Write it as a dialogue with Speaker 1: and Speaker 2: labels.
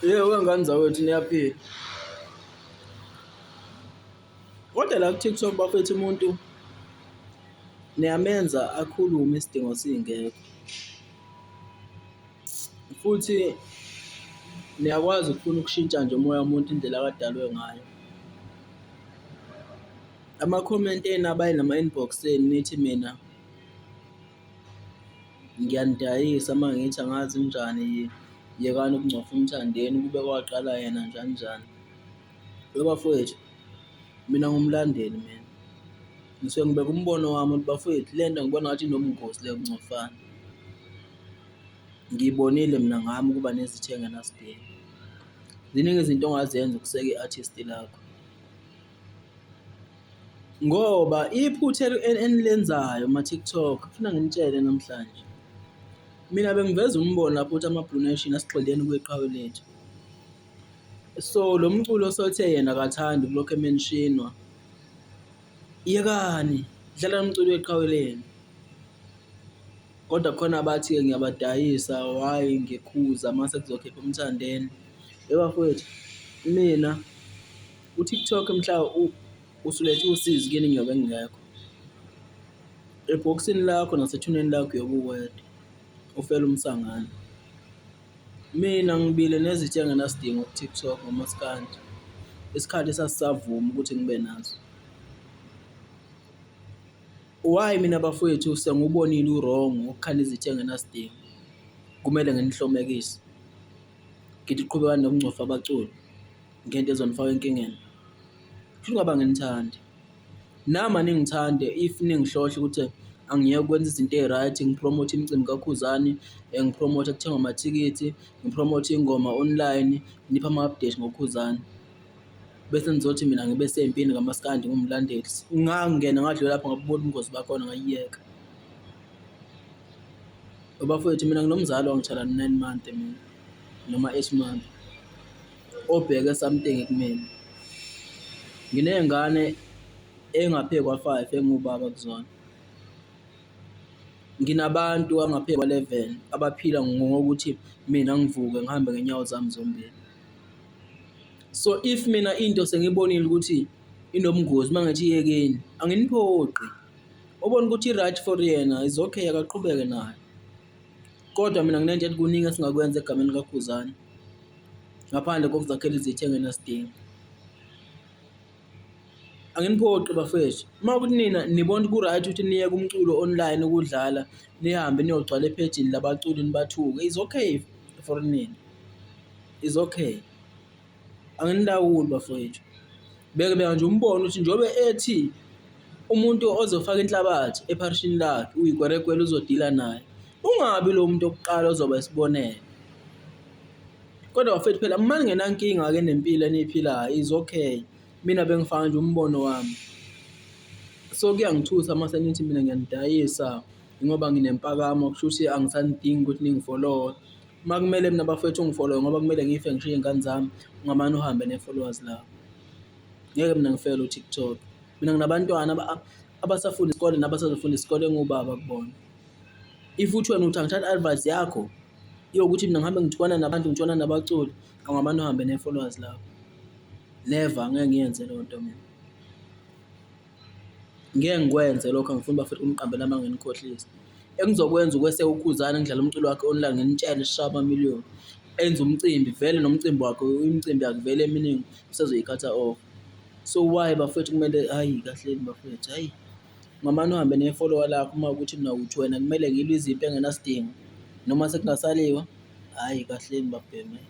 Speaker 1: Yebo wengane zakwethu niyaphila. Kodwa la ku-TikTok bafethu umuntu niyamenza akhulume isidingo singekho. Futhi niyakwazi ukufuna ukushintsha nje umoya womuntu indlela akadalwe ngayo. Ama-comment enu abayi nama-inbox enu nithi mina. Ngiyanidayisa uma ngithi angazi ninjani yekani ukungcofa uMthandeni ukube kwaqala yena njani njani. Lo bafowethu mina ngiwumlandeli mina ngisuke ngibeke umbono wami ukuthi bafowethu le nto ngibona ngathi inobungozi le yokungcofana. Ngiyibonile mina ngami ukuba nezitha engenasidingo. Ziningi izinto ongazenza ukuseka i-artist lakho. Ngoba iphutha enilenzayo kuma-TikTok ngifuna nginitshele namhlanje. Mina bengiveza umbono lapho ukuthi ama-Blue Nation asigxileni kwiqhawe lethu. So lo mculo osothe yena akathandi kulokhu emenishinwa. Yekani, dlala lo mculo weqhawe lenu. Kodwa kukhona abathi-ke ngiyabadayisa why ngikhuza mase kuzokhipha uMthandeni. Yebo bafwethu, imina. UTikTok mhla usulethe usizi kini ngiyobe ngingekho. Ebhokisini lakho nasethuneni lakho uyobe uwedwa, ufela umsangano. Mina ngibile nezitha engenasidingo ku-TikTok ngomaskandi, isikhathi esasisavumi ukuthi ngibe nazo. Why mina bafwethu sengiwubonile u-wrong wokukhanda izitha engenasidingo, kumele nginihlomekise? Ngithi qhubekani nokungcofa abaculi. ngento ezonifaka enkingeni. Kubuhlungu abanginithandi. Nami aningithande if ningihlohla ukuthi angiyeke ukwenza izinto eyi-right, ngiphromote imicimbi kakhuzani, ngiphromote kuthengwa amathikithi, ngiphromote iy'ngoma online, niphe ama-update ngokhuzani. Bese nizothi mina ngibe sempini kamaskandi ngiwumlandeli. Ngangingena ngadlula lapho ngabubona ubungozi bakhona ngayiyeka. Bafowethu mina nginomzala wangitshala nine month mina. noma esimame obheke something ekumina. Nginey'ngane ey'ngaphezu kwa-five engiwubaba kuzona. Nginabantu abangaphezu kwa-eleven abaphila ngokuthi mina ngivuke ngihambe ngey'nyawo zami zombili. So if mina into sengiyibonile ukuthi inobungozi uma ngithi iyekeni anginiphoqi, obona ukuthi i-right for yena is okay akaqhubeke nayo. Kodwa mina nginenja ethi kuningi esingakwenza egameni likaKhuzani ngaphandle kokuzakhela izitha engenasidingo. Anginiphoqi bafethu, uma ukuthi nina nibona ukuthi ku-right ukuthi niye kumculo online ukudlala, nihambe niyogcwala ephejini labaculi nibathuke, it's okay for nina, it's okay. Anginilawuli bafowethu. Beke beka nje umbono ukuthi njobe ethi umuntu ozofaka inhlabathi epharishini lakhe uyigweregwele uzodila naye. Ungabi lo muntu okuqala ozoba isibonelo. Kodwa bafethu phela uma ningenankinga-ke nempilo eniyiphilayo is okay. Mina bengifaka nje umbono wami. So kuyangithusa uma senithi mina ngiyanidayisa ngoba nginempakamo kusho ukuthi angisanidingi ukuthi ningifollowe. Uma kumele mina bafwethu ungifolowe ngoba kumele ngife ngishiye iy'ngane zami, ungamane uhambe ne-followers lakho. Ngeke mina ngifele u-TikTok. Mina nginabantwana abasafunda isikole nabasazofunda isikole engiwubaba kubona. If uthi wena uthi angithathi advice yakho yokuthi mina ngihambe ngithukana nabantu, ngitshwana nabaculi, ungamane uhambe ne-followers lakho. Never, angeke ngiyenze leyo nto mina. Ngeke ngikwenze lokho angifuni bafethu ukungiqambela amanga ningikhohlise. Engizokwenza ukweseka uKhuzani ngidlale umculo wakhe online ngimtshele sishaye amamiliyoni enze umcimbi vele nomcimbi wakhe imicimbi yakhe vele eminingi usezoyikhatha off. So why bafethu kumele hhayi kahleni bafethu hhayi ungamane uhambe nefolowa lakho uma kuwukuthi mina uthi wena kumele ngilwe izimpi engenasidingo noma sekungasaliwa hhayi kahleni babhemu hhayi.